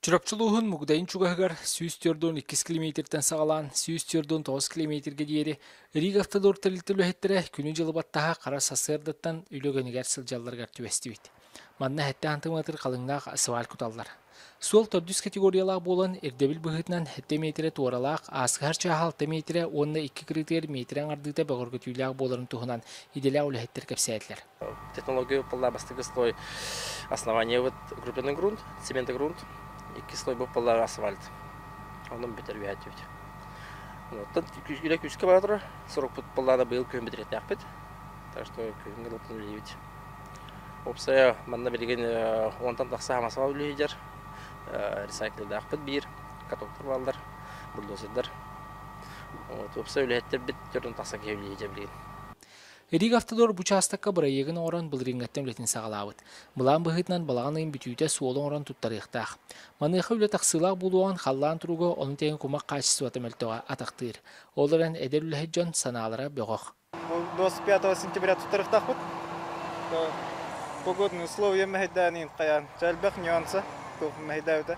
Чурапчы улууһун Мугдайын чугаһыгар сүүс түөрт уон иккис килэмиэтиртэн саҕалаан сүүс түөрт уон тоҕус килэмиэтиргэ диэри Рига автодор тэрилтэ үлэһиттэрэ күнү-дьылы баттаһа хара сарсыардаттан үлэ үгэнигэр сылдьалларыгар түбэстибит. Манна сэттэ антыматыр халыҥнаах сваль куталлар. Суол төрдүс категориялаах буолан, ирдэбил быһыытынан сэттэ миэтирэ туоралаах, ааскыһар чааһа алта миэтирэ уонна икки кырыытыгар миэтирэ аҥардыыта бөҕөргөтүүлээх буоларын туһунан идэлээх үлэһиттэр кэпсээтилэр. технология пылла бастыгы слой основаниебыт укрепленный грунт цементогрунт икки слой бу пыллаах асфальт онон бүтэр үһәтүбүт оттон үлэ күүскэ бара тура сорукпут пыллаана быйыл күһүн битиретээхпит так что күһүҥҥү луттан үлэлиибит уопсайа манна билигин онтон тахса хамасаал үлэһийдер ресайклдаахпыт биир катоктар бааллар бульдозердар уопсай үлэһиттербит төрүн тахса киһи үлэһийдер билигин Риг Автодор бу учаастакка бырайыагын оҥорон былырыыҥҥаттан үлэтин саҕалаабыт. Былаан быһыытынан балаҕан ыйын бүтүүтэ суолу оҥорон туттарыахтаах. Маныаха үлэ тахсыылаах буолуоҕун халлаан туруга ону тэҥэ кумах хаачыстыбата мөлтөҕө атахтыыр. Ол эрэн эдэр үлэһит дьон санаалара бөҕөх. Ол 25 сентября туттарыахтаахпыт. Погодные условия мэһэйдээниин хайаан. Элбэх нюанса мэһэйдээбитэ.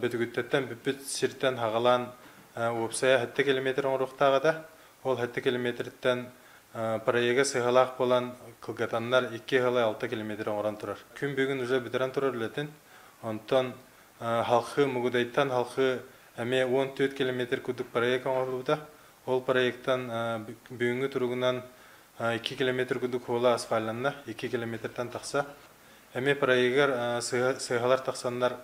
Бөтүгүттэн бүппүт сиртэн хаҕалаан уопсайа сэттэ километр оҥоруохтаах этэ. Ол сэттэ километртэн проега сыһалаах буолан, кылгатаннар икки сыһалай алта километр оҥорон турар. Күн бүгүн уже бүтэрэн турар үлэтин. Онтон халхы Мугудайтан халхы эмиэ уон түөрт километр курдук проек оҥоһуллубута. Ол проектан бүгүҥҥү туругунан икки километр курдук хуола асфальланна, икки километртэн тахса. Эмиэ проегар сыыһалар тахсаннар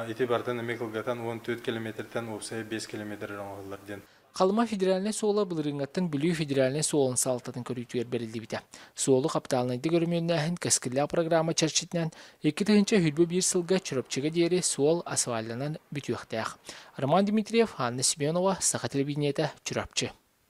ити бартан эмиэ кылгатан уон түөрт километртэн уопсайа биэс километр эрэ оҥоһуллар диэн Халыма федеральнай суола былырыыҥҥаттан Бүлүү федеральнай суолун салалтатын көрүүтүгэр бэриллибитэ. Суолу хаптаалынайдык өрөмүөннээһин кэскиллээх программа чэрчитинэн икки тыһыынча сүүрбэ биир сылга Чурапчыга диэри суол асфальтанан бүтүөхтээх. Роман Дмитриев, Анна Семенова, Саха телевидениетэ, Чурапчы.